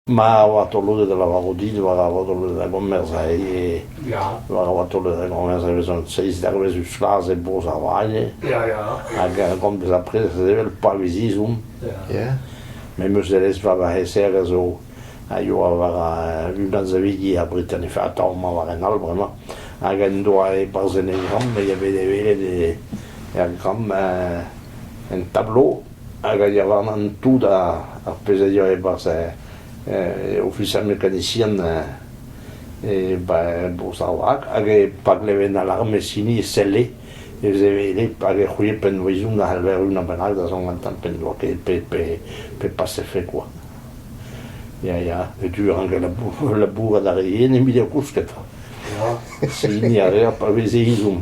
Ma oa taolet da lavarout dit war a oa taolet da gomerz aze, war a oa taolet da gomerz e vezont seiz dervez eus Flas e Bro-Savagne, hag a rank bezañ prest sevel pa viz izom, ya, met meuzerezh war va c'heserr a zo a yoa war a-unan savidi ar Britannique, atav mañ war en all bremañ, hag en doa e barzhenegramm, me a vele welet e, er gramm un tablo hag a ya warnan tout ar pezh a deu e-barzh Officier mécanicien Bro-Saoz hag pa gleven alarmez hini e selle e vezelit hag e c'houie pennoùizoù a c'heller unan bennak da zont gantañ p'en doa ket pe pasefe kwa. Ya ya du rank labourat a ri yen evit eo kousket. Se hini a reer pa veze izhomm.